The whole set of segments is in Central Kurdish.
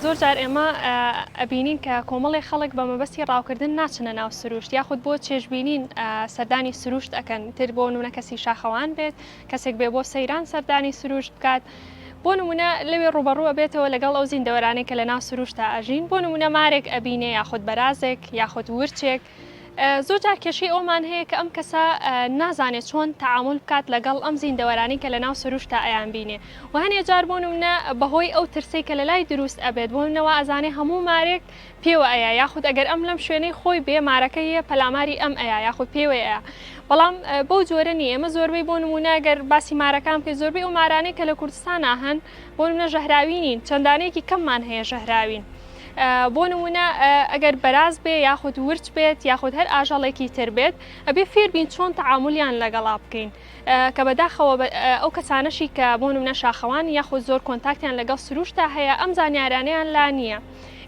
زۆر جار ئێمە ئەبینین کە کۆمەڵێ خەڵک بە مەبەستی ڕاوکردن ناچنە ناو سروشت یاخود بۆ چێژبینین سەردانی سروشت ئەەکەن تر بۆ نونە کەسی شاخەوان بێت کەسێک بێ بۆ سەیران سەردانی سروشت بکات. بۆ نمونە لەوێ ڕوبەڕووە بێتەوە لەگەڵ ئەو زیندەوەرانێک کە لە ناو سروشتا ئەژین بۆ نمونە مارێک ئەبینێ یاخود بەرازێک یاخود ورچێک زۆرجار کێشەی ئەومان هەیە کە ئەم کەسە نازانێت چۆن تەعامل بکات لەگەڵ ئەم زیندەوەرانی کە لە ناو سروشتا ئەیان بینێ و هەنێ جار بۆ نمونە بەهۆی ئەو ترسەی کە لە لای دروست ئەبێت بۆ منەوە ئەزانێ هەموو مارێک پێوە ئەیە یاخود ئەگەر ئەم لەم شوێنەی خۆی بێ مارەکە یە پەلاماری ئەم ئەیە یاخود پێوەیە بەڵام بەو جۆرە نیە ئێمە زۆربەی بۆ نمونە گەر باسی مارەکان بکەین زۆربەی ئەو مارانەی کە لە کوردستان هەن بۆ منە ژەهراوی نین چەندانەیەکی کەممان هەیە ژەهراوین بۆ نمونە ئەگەر بەراز بێ یاخود ورچ بێت یاخود هەر ئاژەڵێکی تر بێت ئەبێ فێربین چۆن تەعاملیان لەگەڵا بکەین کە بەداخەوە ئەو کەسانەشی کە بۆ نمونە شاخەوان یاخود زۆر کۆنتاکتیان لەگەڵ سروشتا هەیە ئەم زانیارانیان لا نییە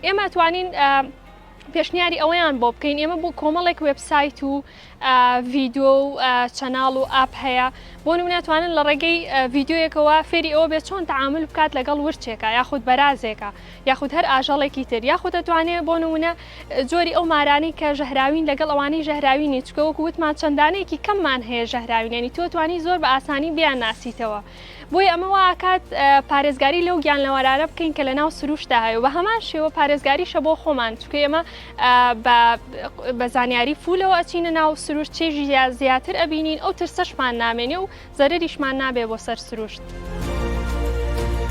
ئێمە توانین پێشنیاری ئەوەیان بۆ بکەین ئێمە بۆ کۆمەڵێک وبسایت و ڤیدۆ و چەناڵ و ئاپ هەیە بۆ نمونە توانن لە ڕێگەی ڤیددیوەکەوە فێری ئەوە بێت چۆن تعامل بکات لەگەڵ ورچێکە یاخود بەرازێکە یاخود هەر ئاژەڵێکی تر یاخود دەتوانێت بۆ نمونە جۆری ئەو مارانی کە ژەهراوین لەگەڵ ئەوانەی ژەهراوینی چکە وەکو وتمان چەندانەیەکی کەممان هەیە ژەهراوینێنی تۆ توانی زۆر بە ئاسانی بیان ناسیتەوە بۆی ئەمە واکات پارێزگاری لەو گیان لەوەرارە بکەین کە لە ناو سروشتدا هەیە و بە هەمان شێوە پارێزگاریشە بۆ خۆمان چکە ئێمە بە زانیاری فولەوە ئەچینە ناو سروشت چێژی زیاتر ئەبینین ئەو ترسەشمان نامێنێ و زەرریشمان نابێ بۆ سەر سروشت.